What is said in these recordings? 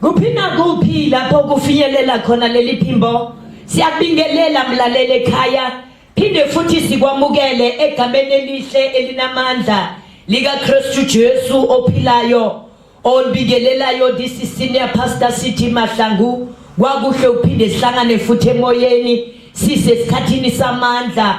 kuphi nakuphi lapho kufinyelela khona leli phimbo siyakubingelela mlaleli ekhaya phinde futhi sikwamukele egameni elihle elinamandla likaKristu Jesu ophilayo olibingelelayo this is senior pastor City Mahlangu kwakuhle uphinde sihlangane futhi emoyeni sisesikhathini samandla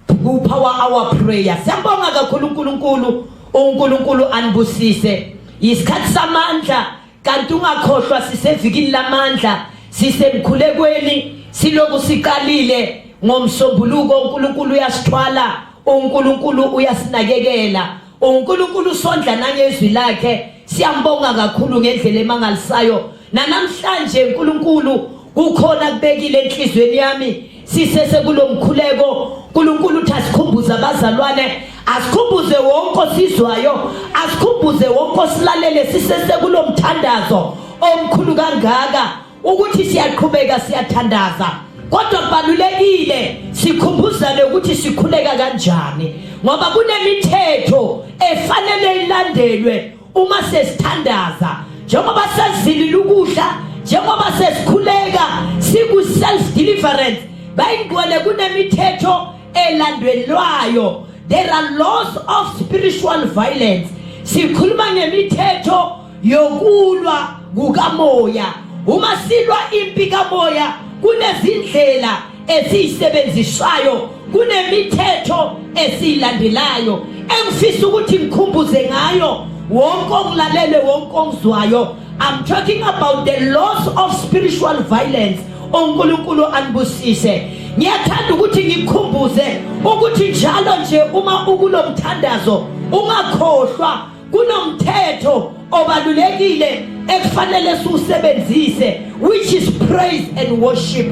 Kupha wa our prayer. Siyabonga kakhulu uNkulunkulu, uNkulunkulu anibusise. Yisikhathi samandla kanti ungakhohlwa sisevikini lamandla, sisemkhulekweni, siloku siqalile ngomsombuluko uNkulunkulu uyasithwala, uNkulunkulu uyasinakekela. uNkulunkulu usondla nangezwi lakhe siyambonga kakhulu ngendlela emangalisayo nanamhlanje uNkulunkulu kukhona kubekile enhlizweni yami sisese kulomkhuleko uNkulunkulu uthi asikhumbuze abazalwane asikhumbuze wonke osizwayo asikhumbuze wonke osilalele sisese kulomthandazo omkhulu kangaka ukuthi siyaqhubeka siyathandaza kodwa kubalulekile sikhumbuzane ukuthi sikhuleka kanjani ngoba kunemithetho efanele ilandelwe uma sesithandaza njengoba sezilile ukudla njengoba sesikhuleka siku self deliverance bayingqwele kunemithetho elandelwayo there are laws of spiritual violence sikhuluma ngemithetho yokulwa kukamoya uma silwa impi kamoya kunezindlela esiyisebenzisayo kunemithetho esiyilandelayo engifisa ukuthi ngikhumbuze ngayo wonke ongilalele wonke ongizwayo i'm talking about the loss of spiritual violence onkulunkulu anibusise ngiyathanda ukuthi ngikhumbuze ukuthi njalo nje uma ukulomthandazo ungakhohlwa kunomthetho obalulekile ekufanele siwusebenzise which is praise and worship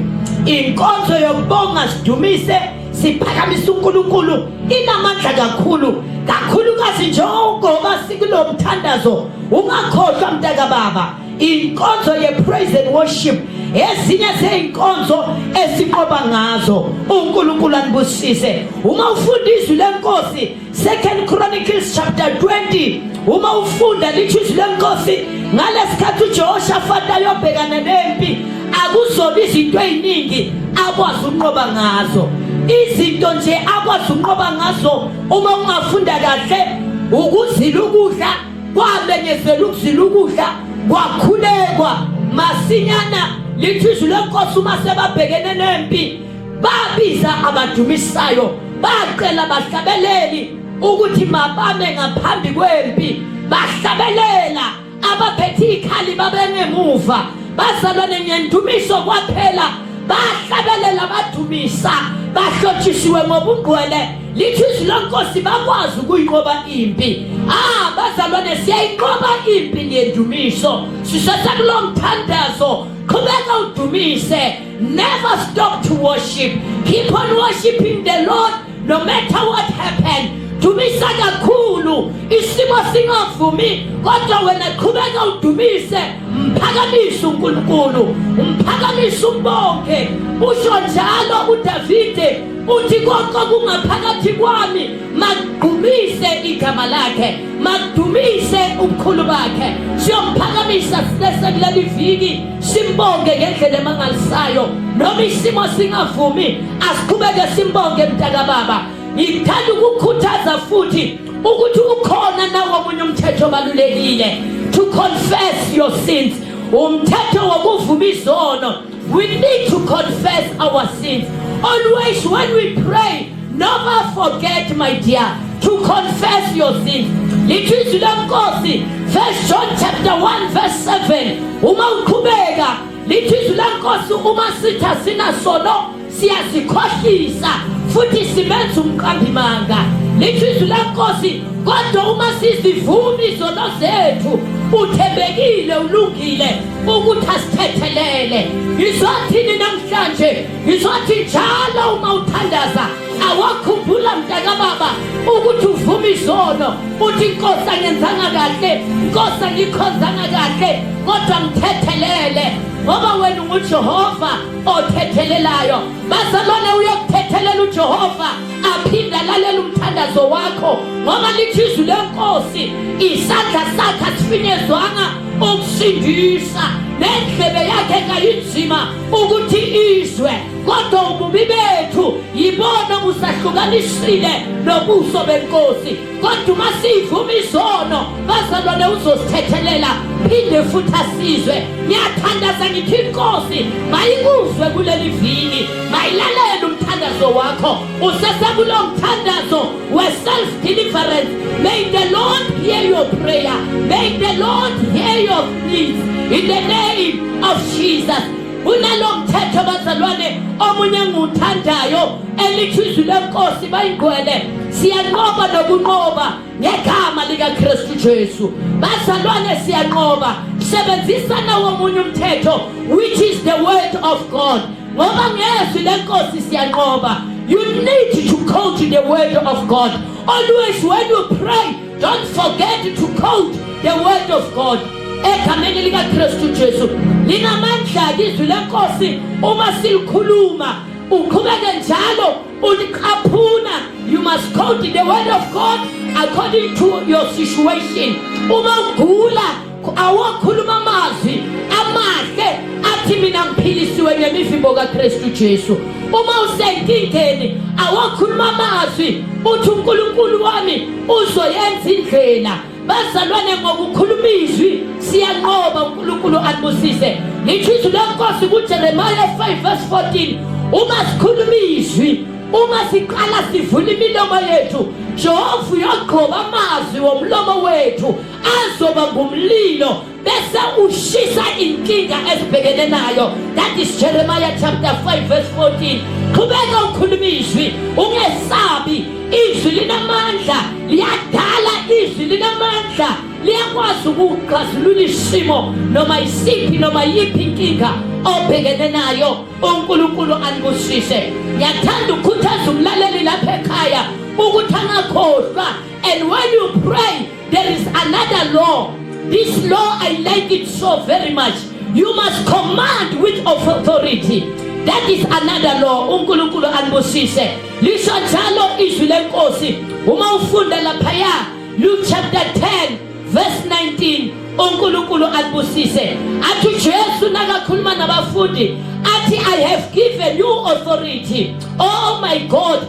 inkonzo yokubonga sidumise siphakamise uNkulunkulu inamandla kakhulu kakhulukazi njengoba sikulo mthandazo ungakhohlwa mntaka baba inkonzo ye-praise and worship ezinye zey'nkonzo esiqoba ngazo unkulunkulu anibusise uma ufunda izwi lenkosi Second Chronicles chapter 20 uma ufunda lithi izwi lenkosi ngalesikhathi uJehoshafati ayobhekana nempi akuzoba izinto eziningi akwazi ukunqoba ngazo izinto nje akwazi ukunqoba ngazo uma ungafunda kahle ukuzila ukudla kwamenyezela ukuzila ukudla kwakhulekwa masinyana lithi izwi lenkosi uma sebabhekene nempi babiza abadumisayo bacela abahlabeleli ukuthi mabame ngaphambi kwempi bahlabelela abaphethe ikhali babengemuva bazalwane ngendumiso kwaphela bahlabelela badumisa bahlotshisiwe ngobungqwele lithi izwi lenkosi bakwazi ukuyinqoba impi ah bazalwane siyayinqoba impi ngendumiso sisesekulomthandazo qhubeka udumise Never stop to worship. Keep on worshiping the Lord no matter what happened. Dumisa kakhulu isimo singavumi kodwa wena qhubeka udumise mphakamise uNkulunkulu umphakamise umbonge usho njalo uDavide uthi konke kungaphakathi kwami makudumise igama lakhe makudumise ubukhulu bakhe siyomphakamise sisesekuleli viki simbonge ngendlela emangalisayo noma isimo singavumi asiqhubeke simbonge mntakababa ngithanda ukukhuthaza futhi ukuthi ukhona nawo omunye umthetho obalulekile to confess your sins umthetho wokuvuma izono we need to confess our sins always when we pray Never forget my dear to confess your sins. Lithi izwi lenkosi First John chapter 1 verse 7 uma uqhubeka lithi izwi lenkosi uma sitha sina sono siyasikhohlisa futhi simenza umqambimanga lithi izwi lenkosi kodwa uma sizivuma izono zethu uthembekile ulungile ukuthi asithethelele ngizothini namhlanje Ngizothi njalo uma uthandaza awakhumbula mntakababa ukuthi uvuma izono uthi nkosi angenzanga kahle nkosi angikhonzanga kahle kodwa ngithethelele ngoba wena ungujehova othethelelayo bazalwane uyokuthethelela ujehova aphinde alalele umthandazo wakho ngoba lithi izwi lenkosi isandla sakhe asifinyezwanga ukusindisa nendlebe yakhe kayinzima ukuthi izwe kodwa ububi bethu yibona obusahlukanisile nobuso benkosi kodwa uma siyivuma izono bazalwane uzosithethelela phinde futhi asizwe ngiyathandaza ngithi inkosi mayikuzwe kuleli vini mayilalele umthandazo wakho usesekulo mthandazo where self deliverance. May the Lord hear your prayer. May the Lord hear your pleas in the name of Jesus. kunalo mthetho bazalwane omunye engiwuthandayo elithi izwi lenkosi bayingcwele siyanqoba nokunqoba ngegama likakristu jesu bazalwane siyanqoba sebenzisa nawo omunye umthetho which is the word of god ngoba ngezwi lenkosi siyanqoba you need to quote the word of god always when you pray don't forget to quote the word of god egameni likakristu jesu linamandla-ke izwi lenkosi uma silikhuluma uqhubeke njalo uliqaphuna you must quote the word of god according to your situation uma ugula awokhuluma amazwi amahle athi mina ngiphilisiwe ngemivimbo kaKristu Jesu uma usenkingeni awokhuluma amazwi uthi uNkulunkulu wami uzoyenza indlela bazalwane ngokukhuluma izwi siyanqoba uNkulunkulu alibusise ngisho izwi lenkosi kuJeremiah 5 verse 14 uma sikhuluma izwi uma siqala sivula imilomo yethu jehova uyogqoba amazwi womlomo wethu azoba ngumlilo bese ushisa inkinga esibhekene nayo that is jeremiah chapter 5 verse 14 qhubeka ukhuluma izwi ungesabi izwi linamandla liyadala izwi linamandla liyakwazi ukuxazulula isimo noma isiphi noma yiphi inkinga obhekene nayo unkulunkulu anibusise ngiyathanda ukukhuthaza umlaleli lapha ekhaya ukuthi angakhohlwa and when you pray There is another law. This law, I like it so very much. You must command with authority. That is another law. UNkulunkulu anibusise. Lisho njalo izwi lenkosi. Uma ufunda laphaya Luke chapter 10 verse 19 uNkulunkulu anibusise. Athi Jesu nakakhuluma nabafundi athi I have given you authority. Oh my God.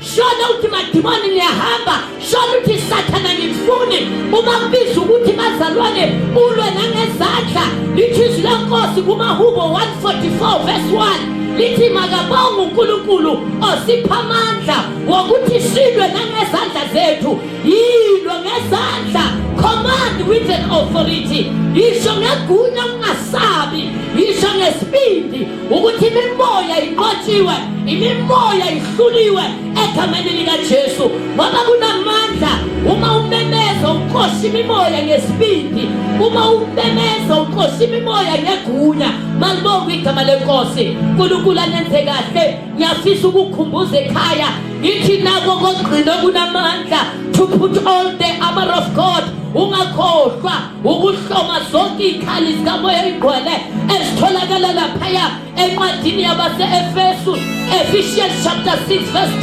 shona ukuthi madimoni niyahamba shona ukuthi sathana ngifuni uma kubiza ukuthi bazalwane ulwe nangezandla lithi izwi lenkosi kumahubo 144 verse 1 lithi makabonga uNkulunkulu osipha amandla wokuthi silwe nangezandla zethu yilwe ngezandla command with an authority yisho ngegunya ungasabi yisho ngesibindi ukuthi imimoya inqotshiwe imimoya ihluliwe egameni likajesu ngoba kunamandla uma umemeza uqosha imimoya ngesibindi uma umemeza uqosha imimoya ngegunya malibonga igama lenkosi nkulunkulu anenze kahle ngiyafisa ukukhumbuza ekhaya ngithi nako kogcino kunamandla to put all the armor of god ungakhohlwa ukuhloma zonke iy'khali zikamoya oyingcwele ezitholakala laphaya encwadini yabase-efesu ephesians chapter 6 verse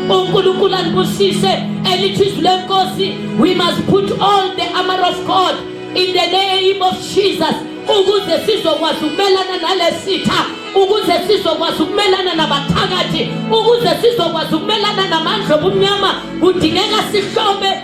10 unkulunkulu anibusise elithi izwi lenkosi we must put on the armor of god in the name of jesus ukuze sizokwazi ukumelana nalesitha ukuze sizokwazi ukumelana nabathakathi ukuze sizokwazi ukumelana namandla obumnyama kudingeka sihlome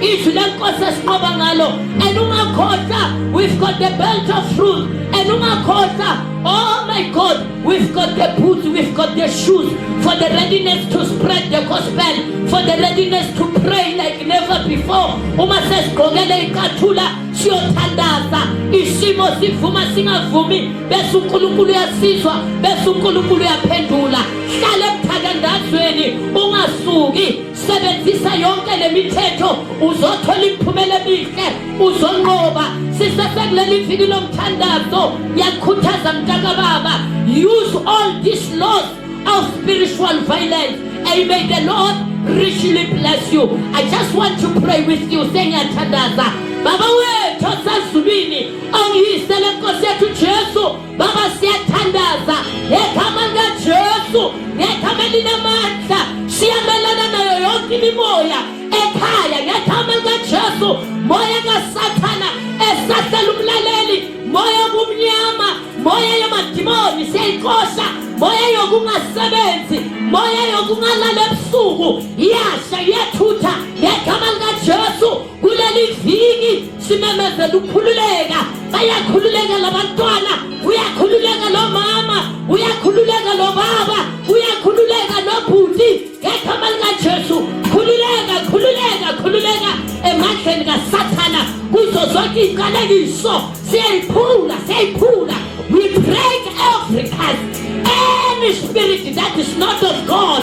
izwi lenkosi esinqoba ngalo and ungakhohlwa we've got the belt of truth and ungakhohlwa oh my god we've got the boots we've got the shoes for the readiness to spread the gospel for the readiness to pray like never before uma sesigqokele iqathula siyothandaza isimo sivuma singavumi bese unkulunkulu uyasizwa bese unkulunkulu uyaphendula hlale emthandazweni ungasuki sebenzisa yonke le mithetho uzothola imiphumela emihle uzonqoba sisesekuleli viki lomthandazo yakhuthaza mntakababa use all these laws of spiritual violence and may the lord richly bless you i just want to pray with you sengiyathandaza baba wethu osezulwini ongiyisele nkosi yethu jesu Baba siyathandaza ngegama likaJesu, ngegama elinamandla, siyamelana nayo yonke imimoya ekhaya ngegama likaJesu, moya kaSathana esahlela umlaleli, moya obumnyama, moya yamadimoni siyayixosha, moya yokungasebenzi, moya yokungalala ebusuku, iyasha iyathutha ngegama likaJesu. kuleli viki simemezela ukukhululeka bayakhululeka labantwana uyakhululeka lo mama uyakhululeka lo baba uyakhululeka nobhuti ngegama likajesu khululeka khululeka khululeka emandleni kasathana kuzo zonke iy'qalekiso siyayiphula siyayiphula we break every curse any spirit that is not of god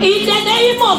in the name of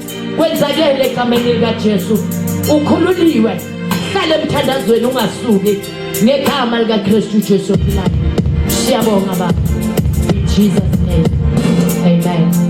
kwenzakele egameni likaJesu ukhululiwe hlale emthandazweni ungasuki ngegama likaKristu Jesu ophilayo siyabonga baba in Jesus name amen